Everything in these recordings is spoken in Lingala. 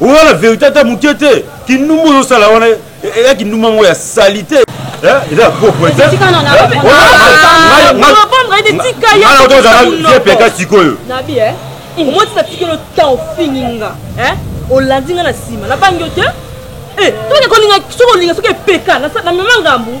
oza na verité ata moke te kindumba ozosala wana eya kindumba moko ya salite eza ya propre te ozala vie peka sikoyo omoti natikeli otan ofingi nga olandi nga na nsima nabangi yo te soki olinga soki epeka na mema ngambu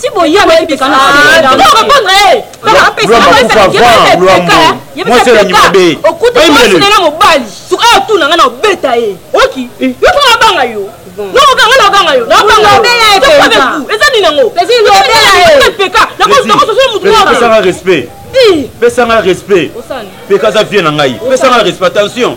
ti boye boyebisa na répondre ye okutuasinela mobali suka yo tuna nga na obeta ye oki eh. yo tuna abanga yo nokokanga nabanga yo eza nini yango peka nakososo motu respect pesanga respect peka aza vie na ngai pesanga respect attention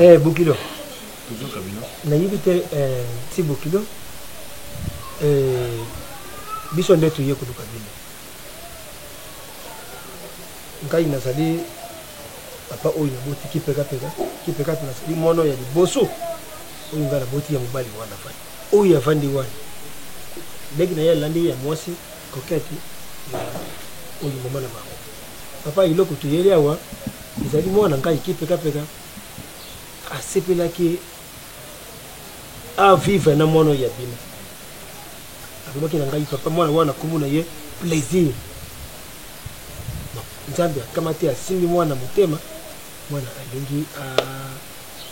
eh bokilo nayebi te eh, ti bokilo eh, biso nde toye koluka bino ngai nazali papa oyo naboti kipekapeka kipekapeka nazali mwana ya liboso oyo ngai naboti ya mobali wana fai oyo avandi wana leki na ye alandi ya mwasi Coquette ya oyo maman na bango. Papa eloko toyeli awa ezali mwana ngai kipeka peka asepelaki a vivre na mwana ya bino alobaki na ngai papa mwana wana kombo na ye plaisir nzambe akamati asimbi mwana motema mwana alingi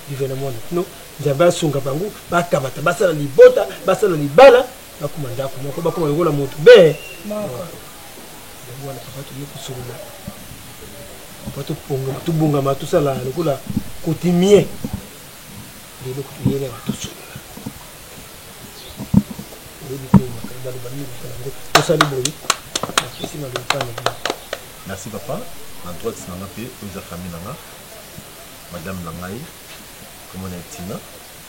vivre na mwana no nzambe asunga bango bakamata basala libota basala libala bakoma ndako moko bakoma lokola moto be yango wana papa toye kosolola papa topongama tobongama tosala lokola kotimie lelo kotoyeli yango tosolola oyebi te makambo baloba nini kosala yango tosali boye napesi maloba mpa na bino merci papa na droite na nga mpe oyo eza famille na nga madame na ngai komona etina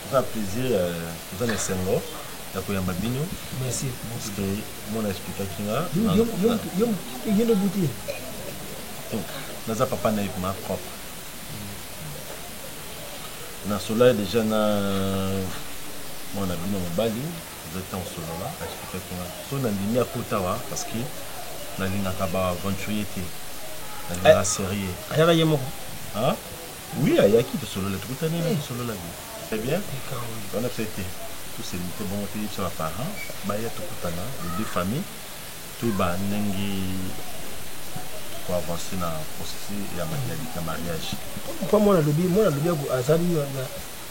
Toza na plaisir toza na esengo ya koyamba bino merci parceque mwana explikaki nga naza papa naye ma propre nasolai deja na mwana bino mobali eza ntango solola explikaki nga so nandimi akotawa parceque nalingaka ba aventurier te nalingaka serieux ayaka ye moko Oui ayaki tosolola tokutani na tosolola bien très bien wana mpe te toselite bongo te yebisa ba parents baya tokutana les deux familles toyeba ndenge ko avancer na processus ya mariage mpo mwana alobi mwana alobi aza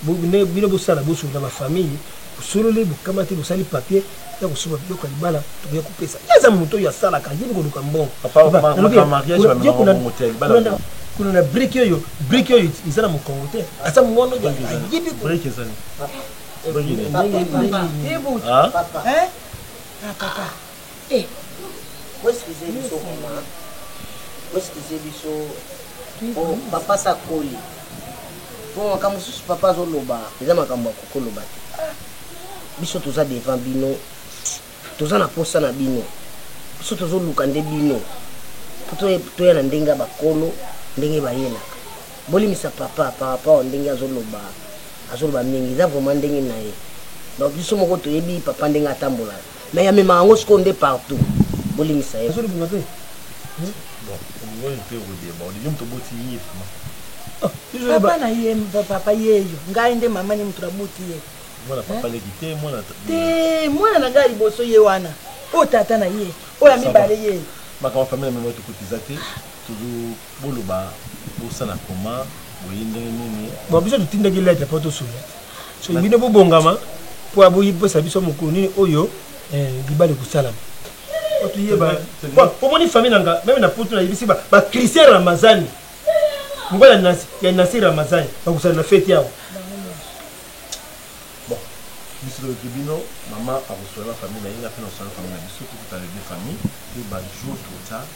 Bo nde bino bo sala bo sundola ba famille bo sololi bo kamati bo sali papier ya ko sumba biloko ya libala to ya ko pesa ye aza moto oyo a salaka ayebi ko luka mbongo papa na lobi ye kuna kuna kuna na brique oyo brique oyo eza na mokongo te aza mwana oyo ayebi ko brique eza ni brique eza ni papa papa eh ah papa Eh bo excuse biso vraiment bo excuse biso po papa sa koli po makambo mosusu papa azoloba eza makambo ya kokoloba te ah, biso toza devant bino toza na posa na bino biso tozoluka nde bino po toya na ndenge ya bakolo ndenge bayelaka bolimisa papa par rapport ndenge azoloba azoloba mingi eza vraiment ndenge na ye donc biso moko toyebi papa ndenge atambolaka Mais amemaka yango sikoyo nde partout. Bolimbisa ye. Azolimbisa te. Hmm? Bon, oyo te okoyeba, olingi moto boti ye vraiment. Ah, papa na ye papa yeyo ngai nde mama ni moto nabuti ye mwana papa leki te mwana te mwana na ngai liboso ye wana oyo tata na ye oyo ya mibale ye makambo famille na mema tokotiza te Boloba bosala comment boye ndenge nini. Bon biso totindaki lettre po tosunga soki bino bobongama po ya boyebisa biso mokolo nini oyo eh, libala ekosalama po toyeba omoni famille na nga meme na poto nayebisi bachristien ramazani mobali ya nasi ramazani bakosala na feti awa biso toyoki bino mama akoswala na famille na ye nga mpe nakoswala na famille na biso tokutana de famille mpe bajour tota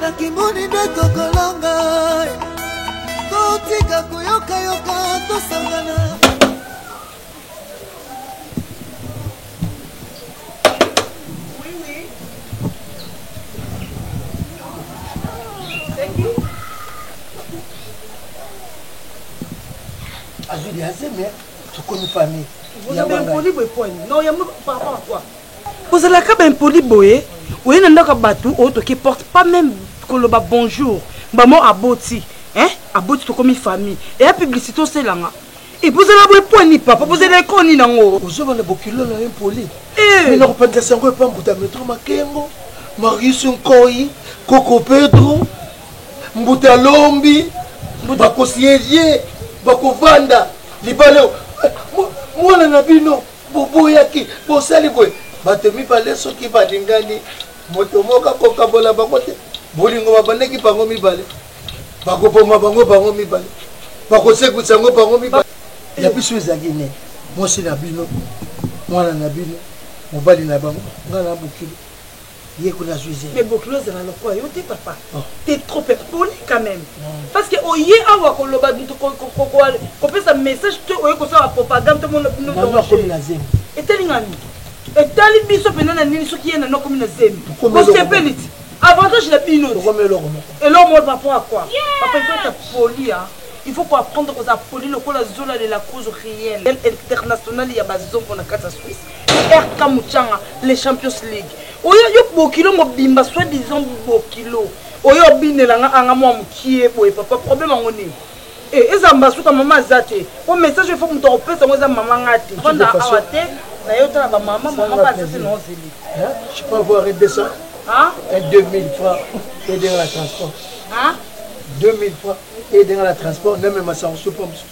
nakimoni nde tokolonga totika koyokayoka tosangana azwi liazeme tokomi famille vous avez un problème de poigne non yambo par rapport à quoi Ozalaka ba impoli boye oye na ndako ya batu o toki porte pas meme koloba bonjour maman aboti hein aboti tokomi famille eya publicite oselanga epuis ozala boye po ni papa bozela eko nini yango ozoba na bokilo na yo impoli eh. mina kopandisa sango epa mbuta metro makengo marius nkoi koko pedro mbuta lombi bakosi elie bakovanda libala eh, mwana na bino Boboyaki, bosali boye. Bato mibale soki balingani, moto moko akokabola bango te. Bolingo babandaki bango mibale, bakoboma bango bango mibale, bakosekwisa yango bango mibale. Ya biso ezalaki nini? Mwasi na bino, mwana na bino, mobali na bango, ngai na bokilo. Yeko na zui zemi. Mais bokilo ezala lokola yo te papa. Oh. T'es trop impoli quand même. Non. Parce que oye awa ko loba nto ko ko ko ko pesa message te oye ko sala propagande to mona bino. Non non komi na zemi. Etali ngani. Etali biso pena na nini soki yena no komi na zemi. Ko sepeli ti. Avantage na bino. Ko komi eloko moko. Eloko moko par rapport à quoi? Papa il faut être poli hein. il faut koapprendre kozala poli lokola zola de la cause réelle internationale ya bazongo na kati ya swisse RK Muchanga le champions league oyo yo bokilo mobimba soit disant bokilo oyo obinela nga anga mwa mukie boye papa problème yango nini eh, eza mbasuka mama aza te po message efo moto akopesa yango eza mama nga te fanda awa te na yo tala bamama mama mpe aza te na ozeli je peux avoir 200 hein? et 2000 francs aider la transport hein? 2000 francs aider la transport namemasa kosupa mosusu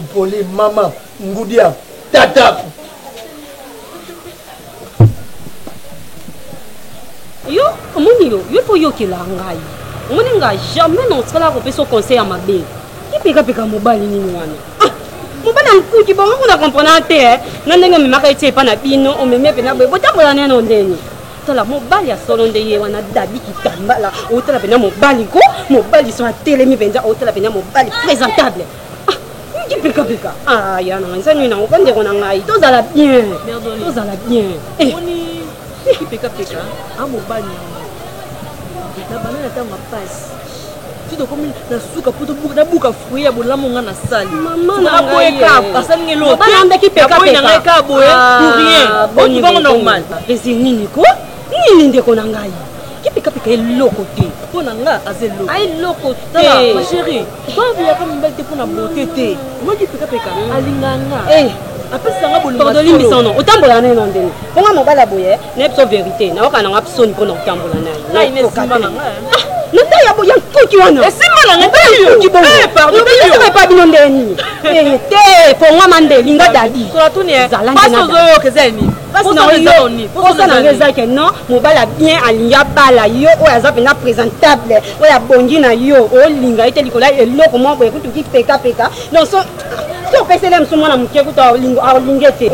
mpoli mama ngudia tata yo omoni yo yo foyokela ngai omoni nga jamais naotikala kopesa conseil ya mabe ipekapeka mobali nini wana ah, mobali ya nkuki bango kuna komprena te eh. na ndenge omemaka eti epa na bino omemi epe na boye botambola neno ndeni tala mobali ya solo nde ye wana dabi kitambala otala mpenza mobali ko mobali so atelemi mpenza otala mpenza mobali présentable kipikapika ah, ah, ya na ngai nsani nango ka ndeko na ngai tozala bien tozala bien eh. kipikapika amobali ah, na bana na ntango ya pasi ti tokomi na suka mpo nabuka fruit ya bolamu nga nasali naboye kaka asali nge loteandaki pekaboye na ngai kaka boye ah, pour rien okibango normal ezi nini ko nini ndeko na ngai kipikapika eloko te mpo na nga aza eloko ah, eloko te ma chérie babiyaka mibali te mpo na bote te omaki pikapika mm. alinganga eh. apesanga bolingo tolimbisano otambola neno ndenge mpo nga mobali ya boye nayebi so verité nayoka nanga soni mpo na kotambola naye na ntai ya nkuki wana nkuki bongoepa bino ndenge nini eh, te pongwama nde linga dadi oza nanga eza ke non mobali bien alingi abala yo oyo aza mpenza présentable oyo abongi na yo olinga ye te likolo ya eloko moko boye kutuki pekapeka donc opesele mosu mwana moke kutu alinge te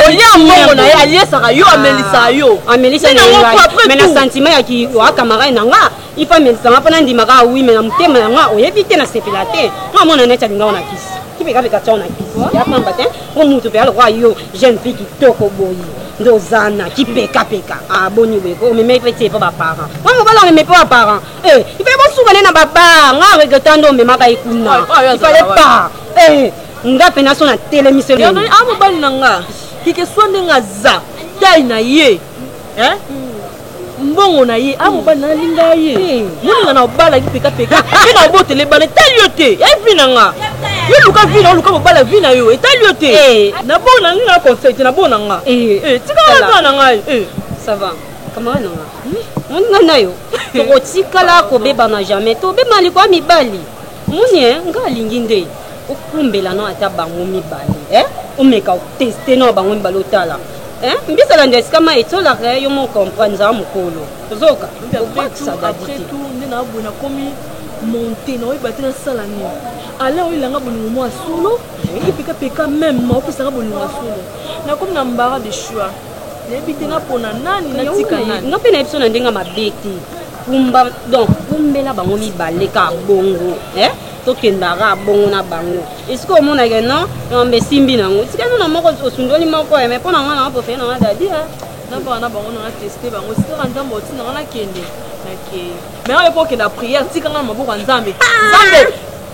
olia mbongo na ye aliesaka yo amelisaka yo amelisa me na sentiment ya kiwa camarade na nga ifa amelisanga mpo nandimaka wi me na motema ya nga oyebi te nasepela te nga mwana neti alinga wana kisi kipekapeka tiao na kisi ya pamba te mpo motu mpe alokola yo jeune fille kitoko boye nde ozana kipekapeka aboni boye omemei mpe tie mpo baparent mpo mobala omemei mpo baparent Eh, il fallait bosuka ne na ba bar nga regretta ndo omemaka ye kuna il fallait pas eh, nga mpena so natelemisi a ah, mobali na nga kike swa ndenge aza tai na ye eh? mbongo na ye a ah, mobali na alinga ye eh. moninga na obalaki pekapeka mpe na obotela ebala etali yo te evi na nga yo luka vi na oluka mobala vi na yo etali yo te na bona ngai na conseil te na bona nga tikala kaka na ngai ça va camarade na nga nga na yo tokotikala kobebana jamais tobebana likoya mibali omoni eh, nga alingi nde okumbela no ata bango mibale eh? omeka oteste no bango mibale otala eh? mbisa landa esika ma etolaka yo mo comprendre nzaa mokolo ozoka obakisa dadi te monte na oyeba te nasala nini alain oyelanga bolingo mwa solo epekapeka meme opesaka bolingo ya solo nakomi na mbara de choix nayebi te napona nani natika nani nga mpe nayebi so na ndenge mabe te kumba donc kumbela bango mibale ka bongo eh? tokendaka bongo na bango esika omonake non yamba esimbi na yango esika nona moko osundoli moko ya eh, mai mpo na ngai nanga pofele nanga dadi eh. nabanga na bango nanga teste bango sikaka nzambe oti nanga nakende nakei mai oyo mpo okenda priere tikanga na maboko ya nzambe ah! nzambe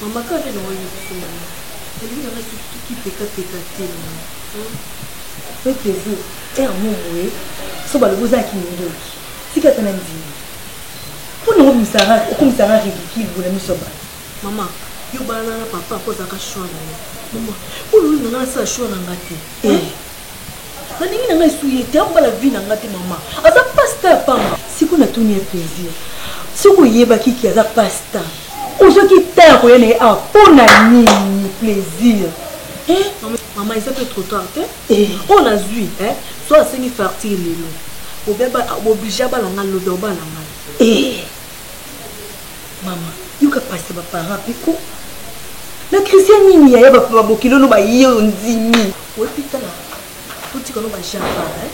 Maman kaka nde naoyebi biso maman elingi nanga soki tokipeka peka te maman mpe tezo ere mo moye so balobi oza ya kindoki tika ata na ndimi mpo nango obimisaka okomisaka ridicule bola miso ya bato maman yo balana na papa mpo ozalaka shwa na yo maman mpo lolinganga nasala shwa na nga te eh. Nalingi na nga esu ye te abala vie na nga te mama aza pasta ya pamba. Siko na tuni ye plaisir soki oyebaki ki aza pasta ozwaki temps ya koya na ye awa mpo na nini plaisir eh? Mama eza pe trop tard te eh. oyo nazwi eh? so asengi fartir lelo oblige abala nga lobi obala nga eh. mama yoka pasi baparent piko na christian nini yaya bapapa bokilolo baye ondimi Oyebi tala totika no ba java hein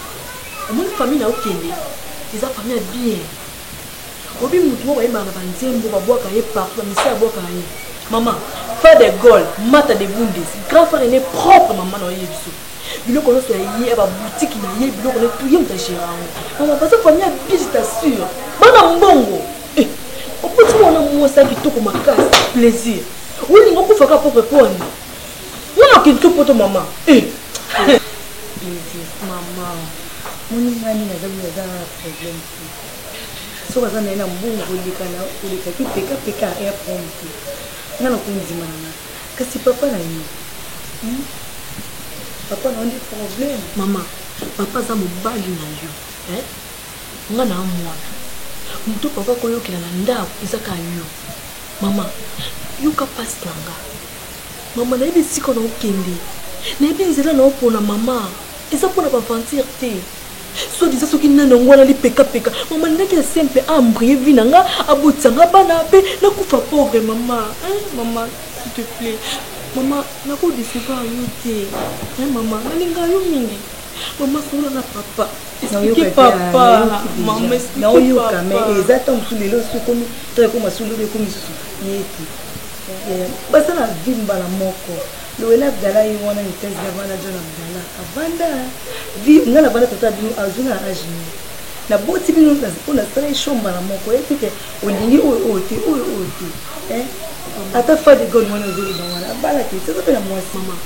omoni famille na yo kende eza famille ya bien oyebi mutu moko ayembaka na banzembo babwaka ye partout na misa abwaka ye mama frère de gaulle mata de bundes grand frère ene propre mama na oyebi biso biloko nyonso ya ye ya babutiki na ye biloko na tuye moto agera yango mama baza famille ya bien je t'assure bana mbongo eh, opoti mwana mwasi ya kitoko makasi plaisir olinga okufaka propre poni Yo na kidi to poto mama. Eh. Bizi mama. Moni ngani na zabi za problème ti. So baza na na mbongo koleka na koleka ki peka peka ya pompe. Nga na kundima na. Kasi papa na yo. Hmm? Papa na ndi problème. Mama, papa za mobali na yo. Eh? Nga na mwana. Mutu papa koyokela na ndako ezaka yo. Mama, yoka pasi na nga. Maman nayebi esika na okende nayebi nzela na opona mama eza mpo na baventure te soit disant soki nani yango wana lipekapeka mama nalingaki ya sempe aembrie vi na nga abotisa nga bana mpe nakufa pauvre mama mama s'il te plait mama nakodecevoir yo te mama nalinga yo mingi mama solo na papa explike papa mama explike papa eza ntango mosusu lelo soki ekomi ntango ekoma solo ekomi susu yete Eeh baza na vie mbala moko Noella Abdallah ye wana vitesse na vanda John Abdallah avanda vie nga na vanda tata na bino azui nga na age nini na boti bino po na sala ye show mbala moko oyebi te ke olingi oyo oyo te oyo oyo te hein ata fa de gone wana ozo loba wana abala te te aza pe na mwasi maman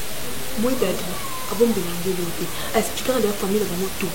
moi dadi abombela nde eloko te a expliquaka deja famille na bango tout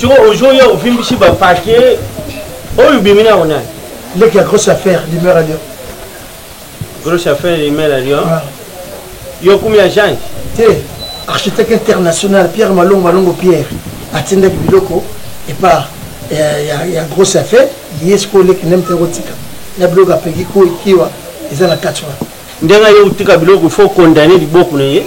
Siko ojoya ovimbisi ba papier oyo bimi na ona. Leki ya grosse affaire demeure à Lyon. Grosse affaire demeure à Lyon. Ah. Yo kumi ya Jean. Te. Architecte international Pierre Malongo Malongo Pierre atindaki biloko epa ya, ya, ya grosse affaire ye sikoyo leki nde mpe ekotika na biloko apeki ko ekiwa eza na kati wana ndenge ye otika biloko fo condamne liboko na ye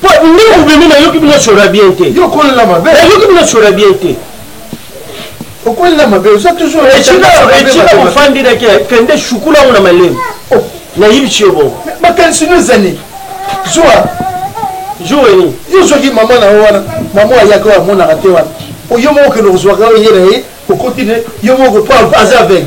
Po nde mobimi na yoki bino sora bien te. Yo ko la mabe. Na yoki bino sora bien te. okolela mabe oza toujours etika ofandi nake kende shukula yango na malemu oh. nayibisi yo bongo makanisi no ezali zuwa jour eni yo ozwaki mama na yo wana mama ayaka oyo amonaka te wana oyo moko okende kozwaka oyo ye na ye okoti ne yo moko po aza aveugle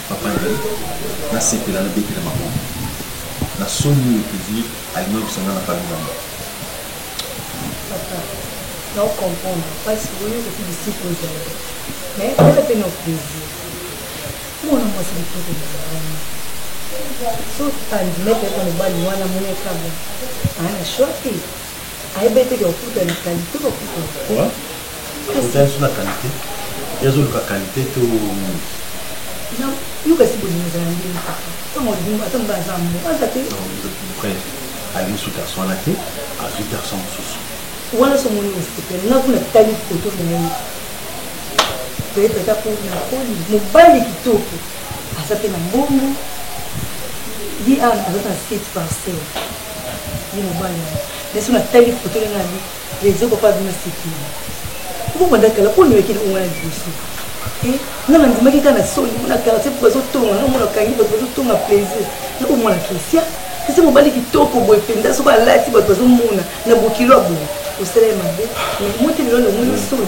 Papa na ye na sepela na betela maboko na soni oyo public alimabisa nga na famille na nga. Papa na o comprendre pasi oyo epi bisika ozali mais eza pe na plaisir mwana mwasi kitoko mozalani so tandine pe na mobali wana monekabo aa na choix te Ayebeteke okuta na qualite ba kuta. Quoi? Akuta yesu na qualite? Ye azoluka qualite to nini? Na yo kasi bolingo ezala ndenge kaka. Tango alingi ata mba aza amour aza te. Bref, alingi su garçon wana te, azui garçon mosusu. Wana so moni respecte nga kuna tali photo na ye. Peut-être ata po na koli mobali kitoko aza pe na mbongo ye awa aza na site parcelle Ye mobali yango nde soki natali foto ndenge abi reseau papa abi nasekeli po banda kala po nayokeli onga na liboso te nga nandimaki kaka na soni mpo na quartier po bazotonga nga mona kangi bato bazotonga plaisir na po mwana christian kasi mobali kitoko boye mpenza soki alati bato bazomona na bokilo ya boye osala ye mabe mais motelelo lomoni soni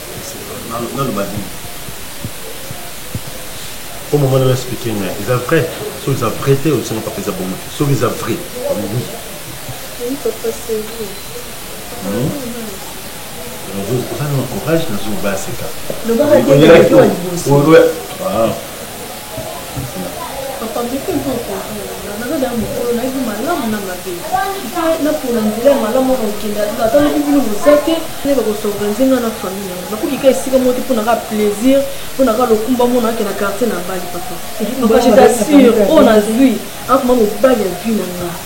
naloba nini po mama nanga explike ngai eza vrai soki eza vrai te osenga papa eza bongo soki eza vrai oui oza na courage nazoloba aseka Papa meka mpe o comprendre nga naza dejà mukolo nayebi malamu na mabe il faut na pona nzela ya malamu wana okende ata ata lobi bino boza te nayeba ko s'organiser nga na famille na nga nakoki kaka esika moko te pona kaka plaisir pona kaka lokumba moko nake na quartier na bali papa papa je t'assure oyo nazui akoma mobali ya vie na nga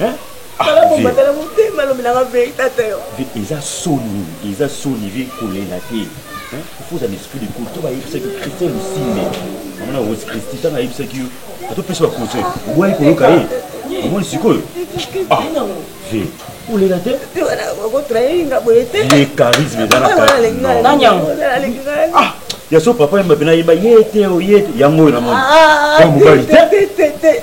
hein tala bomba tala motema alobi nanga verite ata yo eza soni eza soni vie kolela te faut ozala esprit de cour to bayebisaki christian lusimbe amona rose christi ntango ayebisaki yo atopesa baconseil obwaki koyoka ye omoni sikoyo ah ve olela te ye charisme eza na ah ya so papa yemba mpe nayemba ye te oye te yango oyo namoni mobali te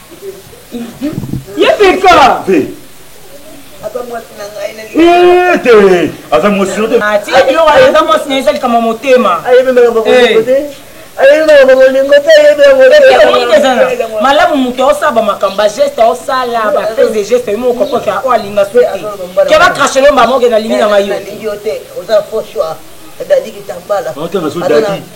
ye peka te aza mwasi yo teatika biloko aza mwasi na eza likambo motema malamu moto aosala bamakambo bageste aosala baprise de geste yimo okokoka oyo alinga soki ke bakrashe lomba moke nalingi na ngai yo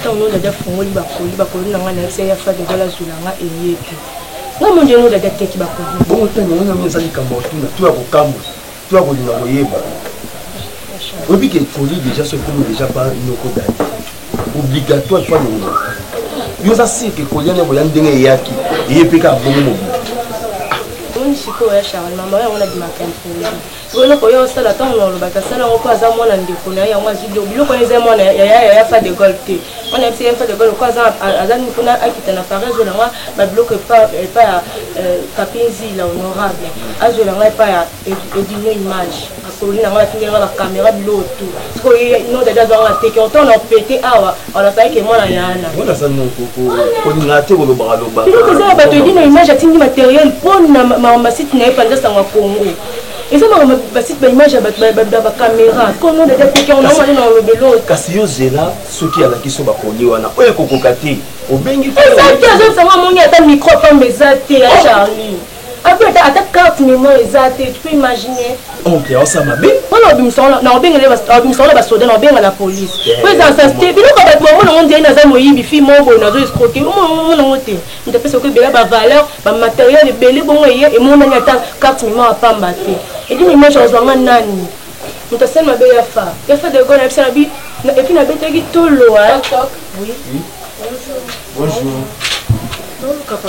ntango nio dada afungoli bakoli bakoli na ngai nayebisa ye afade gola azwila nga eye te nga mondi yango dada teki bakoli bongo ntango yango yango eza likambo ya kotuna to ya kokamwa to ya kolinga koyeba oyebi ke ekoli deja so ekomi deja ba noko dada obligatoire to alongola yo oza sirke ekoli yango ya ndenge eyaki eye mpe kaka bongo mobili sikoyo ya charlema mayo yango nabimaka impoli Sikoyo eloko oye osala ntango na olobaki asala yango mpo aza mwana ndeko na ye yango azwi biloko biloko wana eza mwana ya yaya fa de gol te wana yebisa yaya fa de gol ko aza nini mpona akita na paris azwela nga babiloko epa ya euh, papinzi la honorable azwela nga epa ya edino image akololi na nga batingelanga bakamera biloko tout sikoyo ye nodadi azwanga teke otango na pete awa olobaki ke mwana ya ana wana aza noko kolinga te kolobaka lobaka mpo eza na bato edino image atindi materiel mpo na makambo masite na ye mpanza sango ya congo eza makambo basite baimage ya bakamera kono dada tekeonaomani na olobelo kasi yo zela soki alakisi yo bakoli wana oyo ekokoka te obengi eza te azosanga amoni ata micro pamba eza te ya charlie Abi ata ata carte memoire eza te, tu peux imaginer. Oncle ya osa mabe. Wana obimisa wana na obengele obimisa wana ba soda na obenga la police. Ko eza sa ste bino ko bat maman ngo ndie na za moyibi fi mobo na zo escroquer. Omo ngo ngo te. Nda pesa ko bela ba valeur, ba matériel ebele bongo ye e mona ni ata carte memoire pamba te. Et puis image ozo nga nani. Muta sel mabe ya fa. Ya fa de gona pesa na bi et puis na betaki tolo hein. Oui. Bonjour. Bonjour. Bonjour papa.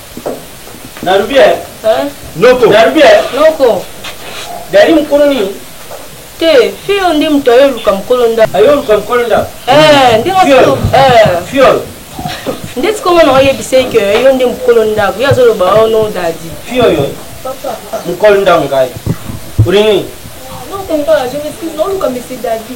Nalobi eh. Hein? Noko. Nalobi eh. Noko. Dali mukolo nini? Te, fio nde moto ayo luka mukolo nda. Ayo luka mukolo nda. Eh, nde nako. Eh. Fiol. Nde tikoma na oyebisa ye que yo nde mukolo nda. Yo azo loba oh non dadi. Fio yo. Papa. Mukolo nda ngai. Urini. Non, tonton, je m'excuse, non, luka monsieur dadi.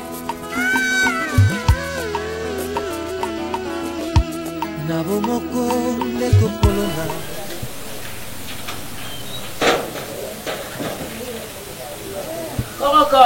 na bomoko nde kopolona koroko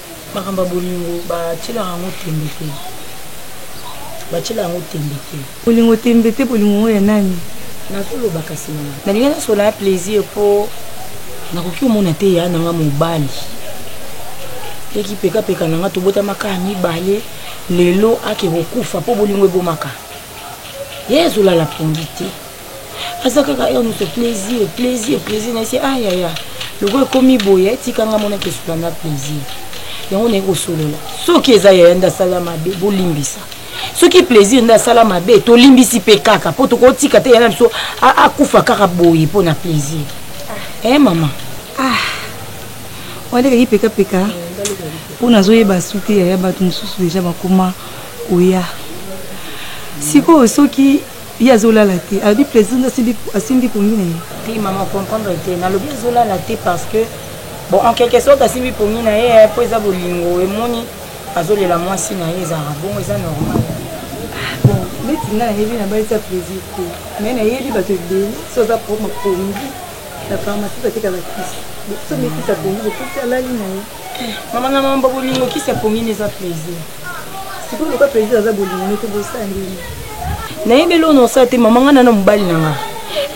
Makambo ya bolingo batyelaka yango ntembe te, batyelaka yango ntembe te. Bolingo ntembe te, bolingo yango ya nani? Nazoloba kasi na. Nalingi nasolola ya plaisir mpo nakoki komona te ya nanga mobali eki pekapeka na nga tobotamaka ya mibale lelo ake kokufa mpo bolingo ebomaka ye ezolala pongi te aza kaka heure moto plaisir plaisir plaisir nayese ayaya ah, lokola ekomi boye eh, tika nga mona tosola na plaisir yango naye kosolola soki eza yaya nde asala mabe bolimbisa soki plaisir nde asala mabe tolimbisi mpe kaka mpo tokotika te yana biso akufa kaka boye mpo na plaisir ah. e mama ah. wana eleki pekapeka mpo nazoyeba su te yaya bato mosusu deja bakoma koya sikoyo soki Ye azo lala te alobi president asimbi asimbi pongi na ye. Te maman comprendre te nalobi azo lala te parce que bon en quelque sorte asimbi pongi na ye po eza bolingo emoni azo lela mwasi na ye ezalaka bongo eza normal. Bon neti nga nayebi na bali sa plaisir te mais nayebi bato ebele si oza propre pongi na pharmacie batekaka kisi. Bo so mekisa pongi bo pesi alali na ye. mama na mama bolingo kisi ya pongini eza plaisir sikoyo lokola plaisir aza bolingo nete bosala ndeni nayebi eloo nosala te mama ngai na na mobali na ngai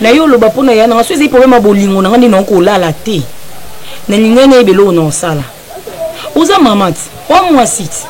na yo oloba mpo na ya na ngai so ezali problème ya bolingo na ngai nde naoki kolala te nalingai nayebi eloo nosala oza mama ti oa mwasi ti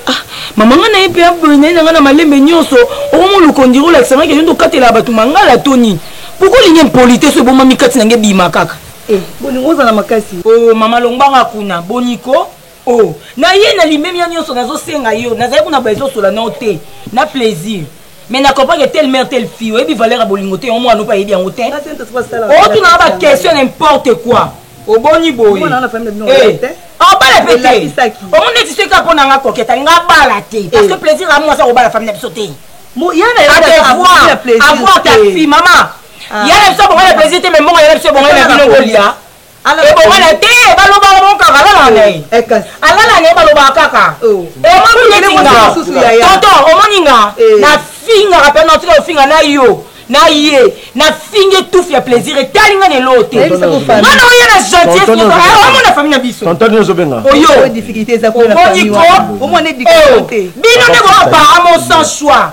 ah, mama ngai naye mpe aboye naye na ngai na malembe nyonso okomoluka ondiri olakisa ngai kende okatela bato mangala to nini poko olingi impolite so ebomami kati na ngai ebima kaka Eh, bolingo ozala makasi. Oh, mama longbanga kuna, boni ko? Oh, na ye na limemia nyonso nazosenga yo, nazali kuna ba ezosola na yo te, na plaisir. Mais na comprendre que telle mère, telle fille, oyebi valeur ya bolingo te, yango mwana opa ayebi yango te. Otuna na ba question n'importe quoi. Oboni boye. Eh, obala pe te. Omoni neti soki apona nga koketa, nga bala te. Parce que eh. plaisir amu aza kobala famille na biso te. Mo yana ya avoir ta fille, maman. Ah. ya na biso abonga na plaisir te me mbongo ya na biso ebonga na bino bolia ebonga na te balobaka bongo kaka alalaka na ye eh, alala na ye balobaka kaka oh. omoni neti nga tonton omoni nga eh. nafingaka mpe natika ofinga na yo na ye nafingi tufi ya plaisir etali nga neloo te mwana oye na gentillesomona famille na biso oyo bino nde boapara mon sans choix